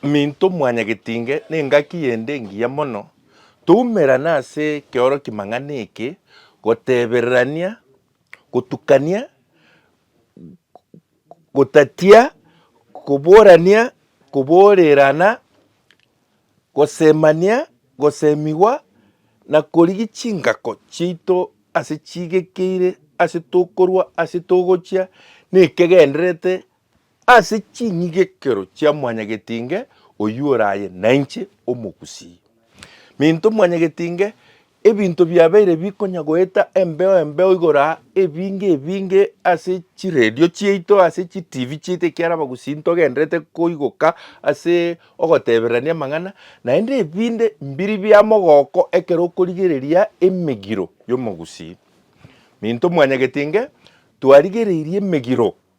Minto mwanyagetinge nengaki yende engiya mono, toumerane ase ekeoroki mang'ana eke, gotebererania, gotukania, gotatia, koborania, koborerana, gosemania, gosemigwa, na korigia chingako chiaito ase chigekeire ase tokorwa ase togochia nekegendererete Ase chinyigekero chia mwanyagetinge oyio ore aye nainche omogusii. Minto mwanyagetinge, ebinto biabeire bikonya goeta embeo embeo igoro aa, ebinge ebinge ase chiredio chiaito, ase chitivi chiaito ekiara abagusii ntogenderete koigoka ase ogotebererania amang'ana, naende ebinde mbiri bia mogoko ekero okorigereria emegiro y'omogusii. Minto mwanyagetinge, twarigereirie emegiro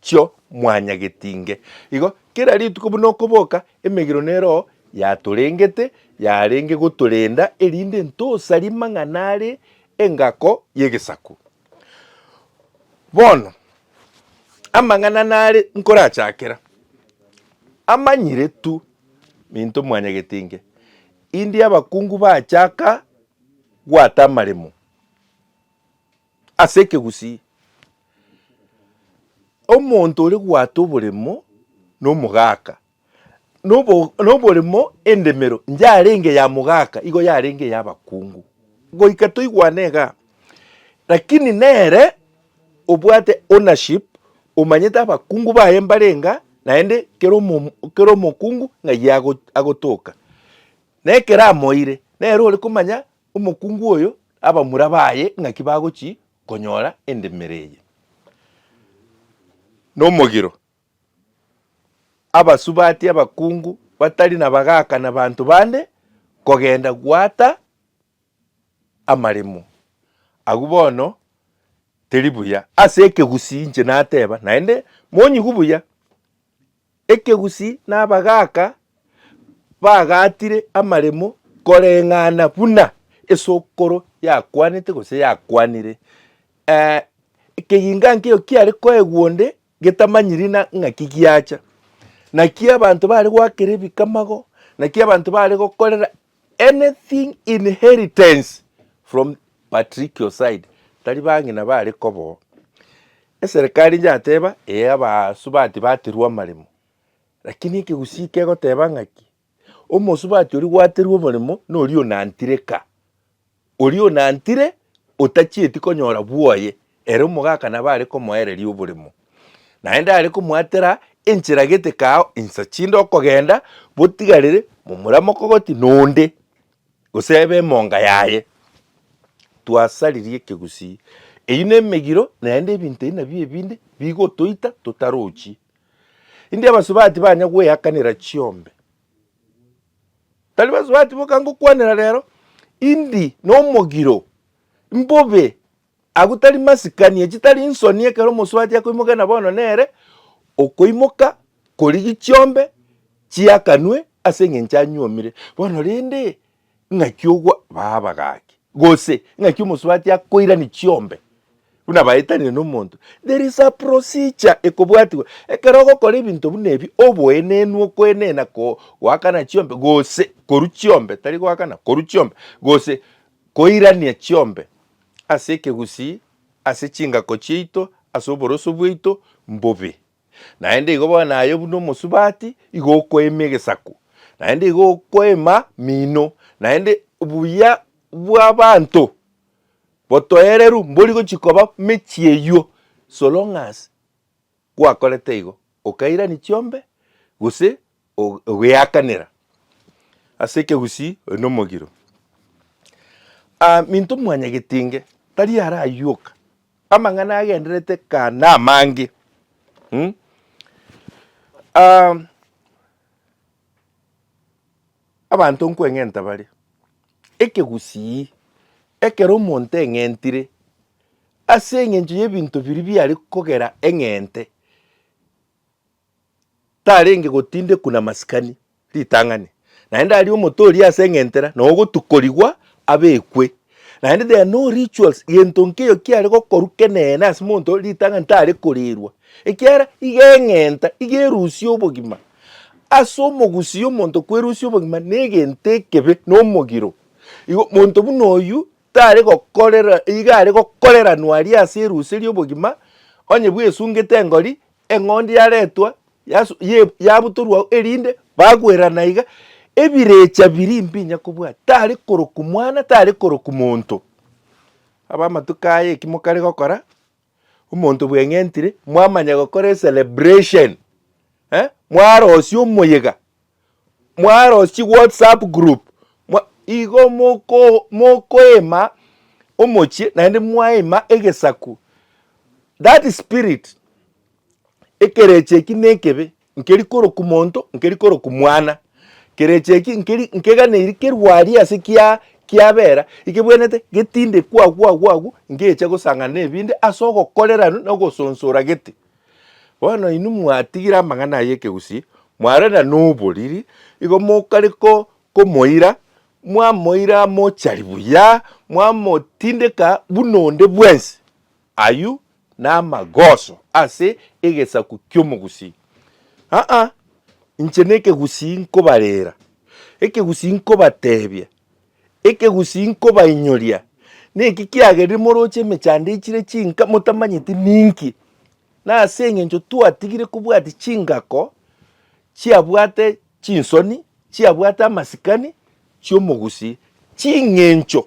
chio mwanyagetinge. Igo kera rituko buna okoboka, emegiro ne Roho yatorengete yarenge gotorenda erinde ntosarie mang'ana are engako y'egesaku. Bono amang'ana nare nkorachakera, amanyire tu minto mwanyagetinge, indie abakungu bachaka gwata amaremo. Ase ekegusii, omonto ore goata oboremo na omogaka, na oboremo endemero yarenge ya mogaka igo yarenge eyabakungu, goika toigwane igaa. Lakini nere obwate ownership omanyete abakungu baye mbare inga naende kera omokungu ng'ai agotoka, na ekero amoire nere ore komanya Omokungu oyo abamura baye ng'aki bagochia konyora endemera eye nomogiro, abasubati abakungu batari nabagaaka na banto bande kogenda goata amaremo agwo bono teri buya. Ase ekegusii inche nateba naende monyigu buya, Ekegusii na abagaaka bagaatire amaremo koreng'ana buna esokoro yakwanete gose yakwanire. Eh, ekeginga nkeiyo kiare koegwa onde getamanyiri na ng'aki giacha. Naki abanto bare goakera ebikamago, naki abanto bare gokorera anything inheritance from patricial side tari bang'ina bare kobo eserekari yateba ee abasubati baterwa amaremo lakini ekegusii kegoteba ng'aki omosubati oria gwaterwa omoremo noria onantireka Oria onantire otachieti konyora bwoye, ere omogaka nabo are komoereria oboremo, naende are komoatera enchera gete kaao insa chinde okogenda, botigarere momura mokogoti nonde, gose ebe emonga yaye. Twasaririe ekegusii. Eyio nemegiro naende ebinto ebi nabio ebinde bigotoita totarochie. India abasubati banya gweakanera chiombe, Elifasi bati, Boka ngokwanera rero, indi nomogiro, mbobe agwo tari masikani, echi tari nsoni ekero omosubati akoimoka na bono nere okoimoka korigia chiombe chiakanwe ase engencho anyuomire. Bono rende Ing'aki ogwa baa abagaaki, gose ing'aki omosubati akoirani chiombe buna baetanire nomonto, there is a procedure ekobwatigwa. Ekero ogokora ebinto buna ebi, oboenenu, okoenena, ko, goakana chiombe, gose korwa chiombe, tari goakana, korwa chiombe, gose koirania chiombe ase ekegusii, ase chingako chiaito, ase oboroso bwaito, mbobe. Naende igo bono aye buna omosubati, igo okoema egesaku, naende igo okoema mino, naende obuya bw'abanto botoereru mbori gochia koba mechie eywo, so long as gwakorete igo, okairani chiombe gose o- ogeakanera ase ekegusii oyo nomogiro. Aminto mwanyagetinge tari arayioka amang'ana agendererete kaa namange mm? Aam, abanto nkweng'enta bare, ekegusii ekero omonto eng'entire ase eng'encho y'ebinto biria biare kogera eng'ente. tarenge gotindekwa na masikani ritang'ani, naende aria omote oria ase eng'entera na ogotukorigwa abekwe. Naende there are no rituals, gento nkeiyo kiare gokorwa kenene ase monto oria ritang'ani tare korirwa, ekiara iga eng'enta iga erusia obogima. Ase omogusii omonto kwerusia obogima na egento ekebe na omogiro. Igo monto buna oyio tare gokorera iga are gokoreranwa aria ase erusia ria obogima, onye bwesungete engori Eng'ondi yaretwa, yasu, ye, yabutorwa ao, erinde bagwerana iga, ebirecha biria mbinya kobwata, tari korokwa mwana, tari korokwa monto. Abamatuko aya eki mokare gokora, omonto bweng'entire, mwamanya gokora ecelebration, eh, mwarosia omoyega. mwarosie whatsapp group mwa- igo moko- mokoema omochie naende mwaema egesaku that spirit ekerecha eki na ekebe nkeri koroku monto nkeri koroku mwana, kerecha eki nkeri nkeganeiri kerwa aria ase kiaa kiabera ekebwenerete getinde kwagu agu agu ngecha gosang'ana na ebinde ase ogokorera na ogosonsora gete. Bono inwe mwatigire amang'ana aye ekegusii, mwarenda noboriri, igo mokare ko komoira, mwamoira amochari buya, mwamotindeka buna onde bwensi. Ayio namagoso ase egesaku ki'omogusii. Aa, inche nekegusii nkobarera, ekegusii nkobatebia. Ekegusii nkobainyoria niki, kiagerire moroche emechando echire chinka motamanyeti ninki, na ase engencho twatigire kobwatia chingako chiabwate chinsoni, chiabwate amasikani chi'omogusii, ching'encho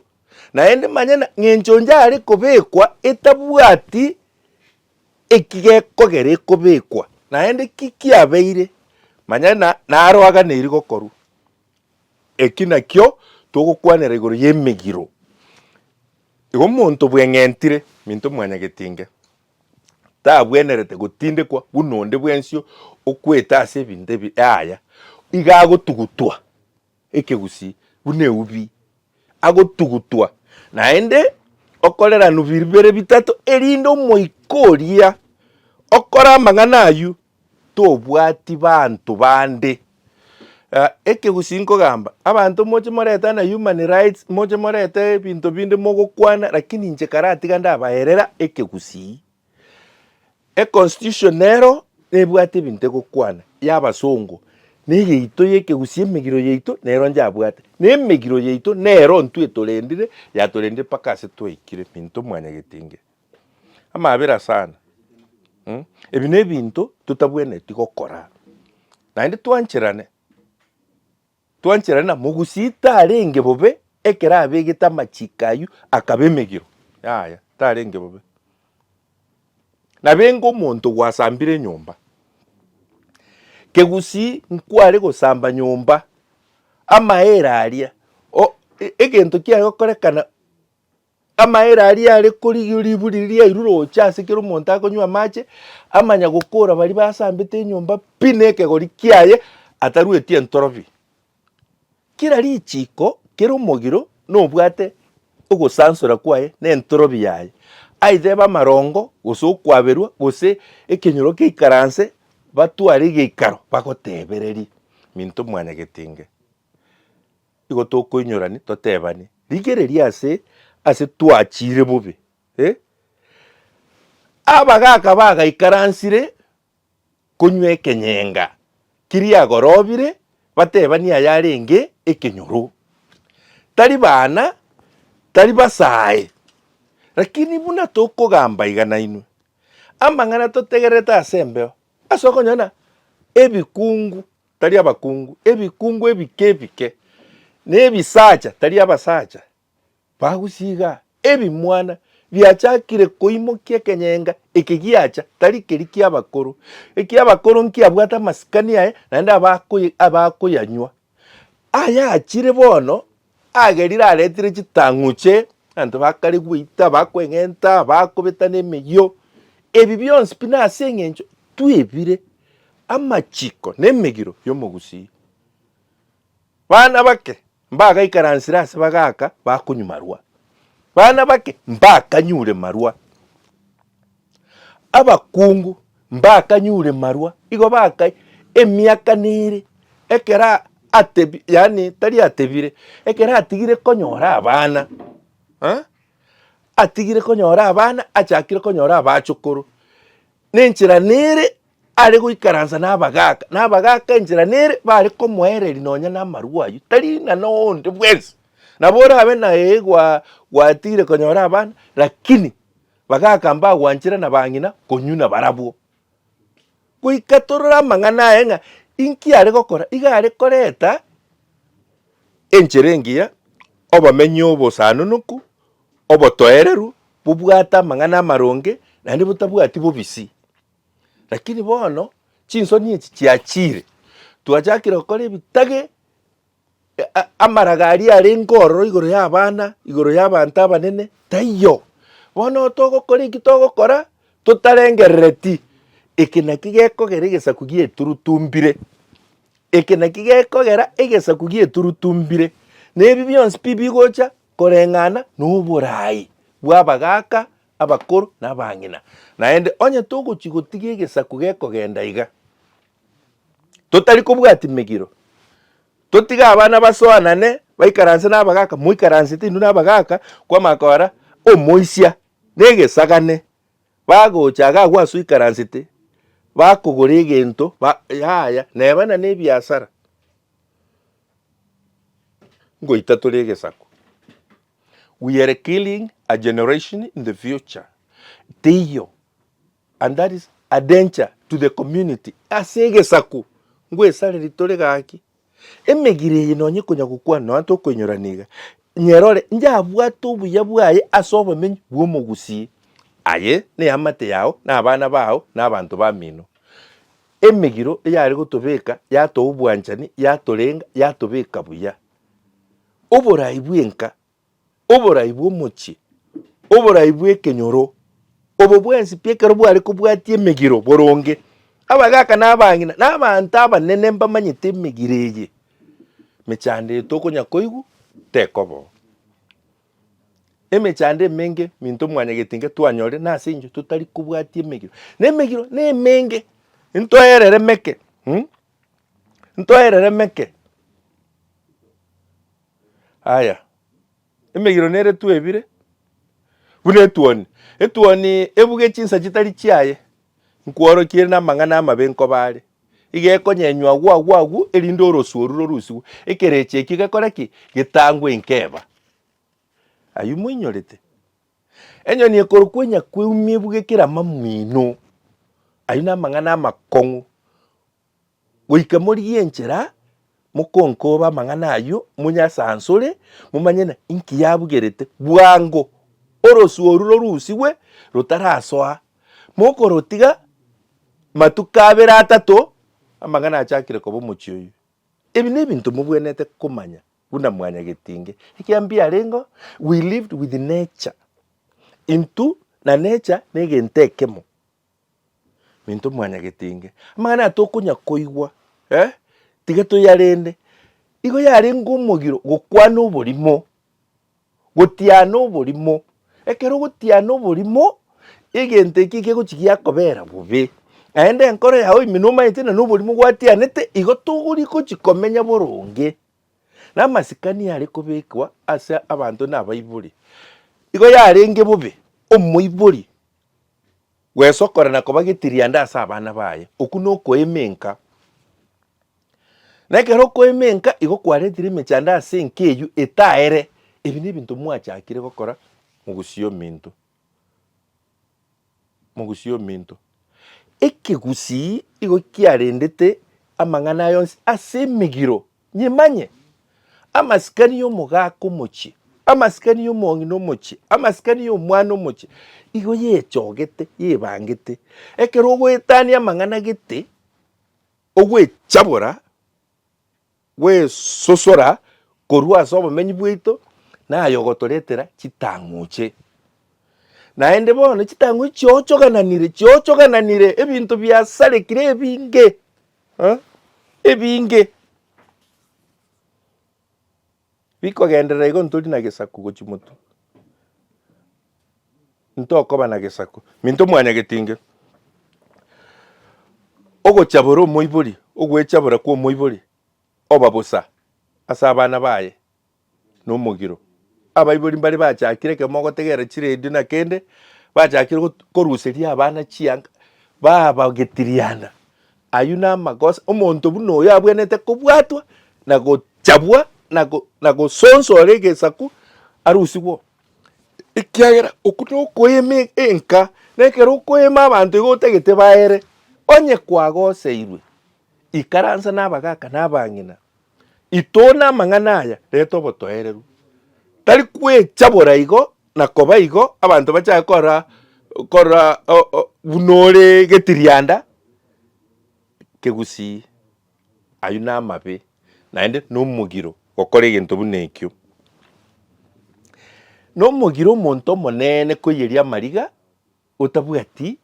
naende manya na ng'encho onde are kobekwa etabwati eki gekogera ekobekwa, naende ki kiabeire, manya na naroaganeiri gokorwa. Eki nakio togokwanera igoro y'emegiro. Igo omonto bweng'entire minto mwanyagetinge, tabwenerete gotindekwa buna onde bwensio okwete ase ebinto ebi, yaya, iga agotugutwa ekegusii buna eubi, agotugutwa naende okoreranwa bibere bitato, erinde omoika oria okore amang'ana ayio tobwati banto bande. Ekegusi nkogamba, abanto moche moretana human rights, moche morete ebinto binde mogokwana lakini inche karatiga ndabaerera ekegusii. Econstitution nero nebwate ebinto egokwana y'abasongo, na eyaito y'ekegusii emegiro yaito nero njabwate, na emegiro yaito nero intwe etorendire yatorendire mpaka ase twaikire minto mwanyagetinge. Amabera sana. Ebi nebinto totabwenereti gokora. Naende twancherane, twancherane na mogusi tarenge bobe ekero abegete amachiko aywo akaba emegiro. Yaya tarenge bobe. Nabenge omonto gwasambire enyomba, kegusii nkware gosamba nyomba, amaere aria egento kiaye okorekana. Amaere aria are korigia riburi riria riairure gocha ase kera omonto akonywa amache, amanya gokora baria basambete enyomba pi na ekegori kiaye atarueti entorobi. Kera richiko, kera omogiro nobwate ogosansora kwaye na entorobi yaye, aitha ebe amarongo, gose okwaberwa, gose ekenyoro keikaranse, batware egeikaro bagotebererie, Minto mwanyagetinge. Igo tokoinyorani totebane, rigereria ase ase twachire bobe eh, abagaka bagaikaransire konywa ekenyenga kiria gorobire batebanie ayarenge ekenyoro. Tari bana, tari basae, lakini buna tokogamba iga nainwe, amang'ana totegererete ase embeo, ase okonyora na ebikungu tari abakungu, ebikungu ebike ebike, na ebisacha, tari abasacha, bagusie iga, ebimwana biachakire koimokia ekenyenga eke giacha, tari keria ki'abakoro, eki'abakoro nkiabwate amasikani aye, naende abakoye abakoyanywa. Ayachire bono Agerire aretire chitang'uche, abanto bakare goita, bakweng'enta, bakobeta nemeyio. Ebi bionsi pi nase eng'encho twebire amachiko nemegiro y'omogusii. Bana bake mbagaikaransire ase bagaaka bakonywa marwa, bana bake mbakanyure marwa. Abakungu mbakanyure marwa, igo bakae emiaka nere ekero atebi, yaani tari atebire, ekero atigire konyora abana, eh, atigire konyora abana achakire konyora abachokoro, nenchera nere are goikaransa na abagaka, na abagaka enchera nere bare komoereria nonya na amarwa aywo, tari ng'a na onde bwensi. Nabo orabe na ee gwa gwatigire konyora abana, lakini. Bagaaka mbagwanchera na bang'ina konywa nabarabwo. Goika torore amang'ana aye ng'a inki are gokora, iga are koreta enchera engiya, obomenyo obosaanonoku, obotoereru, bobwate amang'ana amaronge, naende botabwati bobisi. Lakini bono chinsoni echi chiachire, twachakire gokora ebitage. amaraga aria arenge ororo igoro y'abana, igoro y'abanto abanene, taiyo. Bono togokora eki togokora totarengerereti, eke naki gekogera egesaku gi'eturutu mbire, eke naki gekogera egesaku gi'eturutu mbire, na ebi bionsi pi bigocha koreng'ana na oboraai bw'abagaaka, abakoro, na abang'ina. Naende onye togochia gotiga egesaku gekogenda iga. totari kobwati megiro, totige abana basoanane, baikaranse nabagaaka, moikaransete inwe nabagaaka, kwamanya kora omoisia na egesagane, bagocha iga agwo ase oikaransete, bakogora egento, ba yaya, neba na nebiasara, ngoita tore egesaku. We are killing a generation in the future, teiyo. And that is a danger to the community ase egesaku ngwesareri tore gaki. Emegire eye nonye konya gokwana nonya tokoinyorana iga, nyerore njabwate obuya bwaye ase obomenyo bw'omogusii. Aye neamate yao na abana bao na abanto bamino. Emegiro eyare gotobeka yatoa obwanchani, yatorenga, yatobeka buya. Oborai bw'enka oborai bw'omochie, oborai bw'ekenyoro, obo bwensi pi ekero bware kobwatia emegiro boronge. Abagaaka na abang'ina na abanto abanene mbamanyete emegiro eye, emechando eye tokonya koigwa tekobao. Emechando emenge minto mwanyagetinke twanyorire nase engencho totari kobwatia emegiro. Na emegiro na emenge, ntoereremeke, ntoereremeke. Aya, emegiro neretwe ebire buna etuoni, etuoni ebuge chinsa chitari chiaye, nkworokia ere namang'ana amabe nkoba are, iga ekonyenywa agwo agwo agwo, erinde oroswe orure orusigwe, ekerecha ekio gekore ki? Getangwe nkeba. Ayio moinyorete? Enyoni ekorokwa enyakweumia ebuge kera amamwino, ayio namang'ana amakong'u, Goika morigie enchera, mokonkoba amang'ana ayio, monye ase aanse ore, momanye ng'a inki yabugerete. Bwango orosio oru rorusigwe rotarasoa, mokorotiga matuko abere atato, amang'ana achakire koba omochie oyio. Ebi nebinto mobwenerete komanya buna mwanyagetinge, ekiagera mbiarengeo, we lived with nature, intwe na nature negento ekemo. Minto mwanyagetenge. Amang'ana aya tokonya koigwa, eh, tiga toyarende. Igo yarenge omogiro gokwana oborimo, gotiana oborimo. Ekero ogotiana oborimo, egento eki gegochi giakobera bobe, naende enkoro yao ime nomaete na noborimo gwatianete, igo togori gochi komenya boronge. Na amasikani are kobekwa ase abanto nabaibori, igo yarenge bobe omoibori Gwesokora na koba getirianda ase abana baye, okwo nokoema enka. Na ekero okoema enka igo kwaretire emechando ase enka eyio etaere. Ebi nebinto mwachakire gokora mogusii ominto, mogusii ominto. Ekegusii igo kiarendete amang'ana aya onsi ase emegiro Nyimanye, amasikani y'omogaaka omochie, amasikani y'omong'ina omochie, amasikani y'omwana omochie, igo yechogete, yebangete. Ekero ogoetania amang'ana gete, ogwechabora, gwesosora korwa ase obomenyi bwaito, naye ogotoretera chitang'uche. Naende bono chitang'uchi chiochogananire, chiochogananire ebinto biasarekire ebinge, ebinge bikogenderera igo ntori na gesaku gochia motwe. Ntokoba na gesaku, minto mwanyagete inge, ogochabora omoibori, ogwechabora kwa omoibori oba bosa ase abana baye. nomogiro. Abaibori mbare bachakire ekero mogotegerera chiredio na kende, bachakire got- koruseria abana chianga, babagetiriana. Ayio namagoso, omonto buna oyo abwenerete kobwatwa, na gochabwa, na go- na gosonswa ore egesaku, arusigwe oo. Ekiagera okwo nokoeema e- enka, na ekero okoeema abanto iga otagete baere, onye kwagoseirwe, ikaransa na abagaka na abang'ina. Itoone amang'ana aya, reta obotoereru. Tari kwecha bora igo na koba igo abanto bachaye korora korora buna ore getirianda kegusii. Ayio namabe naende nomogiro gokora egento buna ekio. Nomogiro omonto omonene koiyeria amariga. Otabwati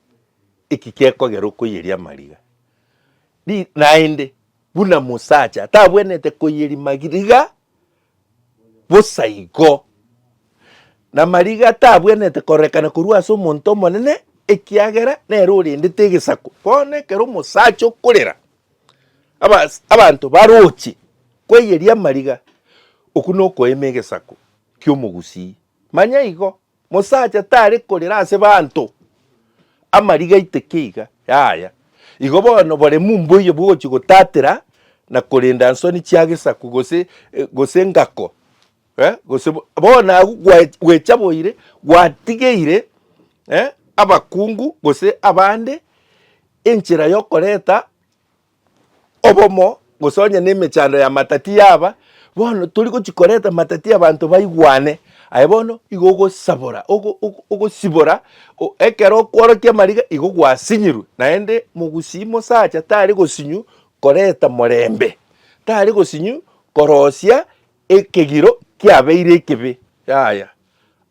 eki gekogera okoiyeria amariga, ri, naende buna mosacha tabwenerete koiyeria magriga, bosa igo, namariga tabwenerete korekana korwa ase omonto omonene, ekiagera nere orendete egesaku. Bono ekero omosacha okorera, abas abanto baroche kweiyeria amariga, okwo nokoema egesaku ki'omogusii. Manya igo, Mosacha tare korera ase banto amariga aiteke iga, yaya. Igo bono boremu mboiyo bwogochia gotatera na korenda nsoni chia gesaku gose gose engako eh, gose bo- bono agwo gwa- gwecha boire gwatigeire eh, abakungu gose abande enchera yokoreta obomo, gose onye nemechando y'amatati yaba, bono tori gochia koreta amatati abanto baigwane, aye bono igo ogosabora ogo ogo ogosibora o ekero okworokia amariga igo gwasinyirwe, naende mogusii mosacha tari gosinyu koreta morembe, tari gosinyu korosia ekegiro kiabeire ekebe, yaya.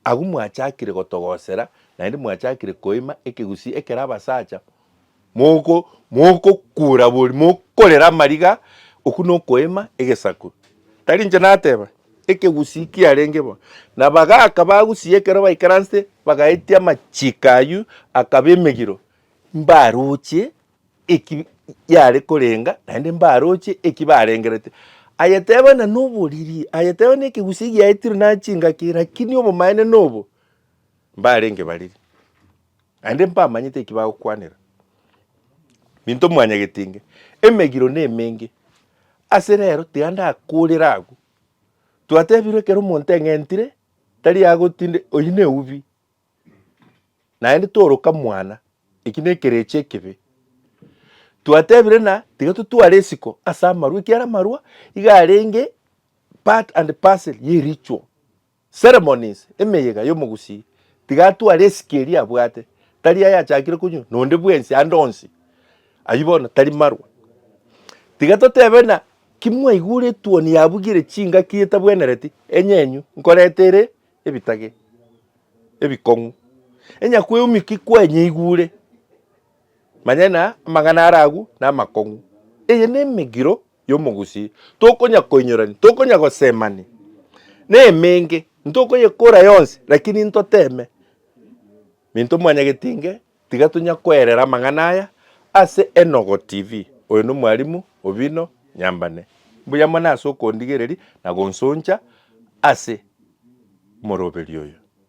Agwo mwachakire gotogosera naende mwachakire koima ekegusii ekero abasacha. mogokuura bori, mokorera amariga, okwo nokoema egesaku. Tari inche nateba, ekegusii kiarenge bo. Na bagaaka bagusia ekero baikaransete bagaetia amachiko aywo akaba emegiro, mbaroche eki yare korenga naende mbaroche eki barengerete. Aye teba na noboriri, aye teba na ekegusii giaetirwe nare chingaki, lakini obomaene nobo, mbarenge bariri. Naende mbamanyete eki bagokwanera, Minto mwanyagete inge, emegiro nemenge. Ase rero tiga ndakorera agwo. Twatebirwe ekero omonto eng'entire, tari agotinde, oyio neubi. Naende toroka mwana, eki nekerecha ekebe. Twatebirwe na tiga totware esiko ase amarwa, ekiara amarwa iga arenge part and parcel ye ritual. Ceremonies, Emeyega y'omogusii, tiga atware esike eria abwate, tari aye achakire konywa, nonde bwensi ande onsi, ayio bono tari marwa. Tiga totebe ng'a kimwaigure etuoni yabugire chingaki etabwenereti, enyenyu, nkoreta ere ebitage, ebikong'u, enyakweumia ki kwanyeigure? Manya ng'a amang'ana are agwo namakong'u. Eye nemegiro y'omogusii, tokonya koinyorania, tokonya gosemania nemenge, ntokoyekora yonsi, lakini ntoteme minto mwanyagete inge, tiga tonya koerera amang'ana aya ase Enogo TV. Oyo nomwalimu obino nyambane. Mbuya mono ase okondigereria na gonsoncha ase omoroberio oyo.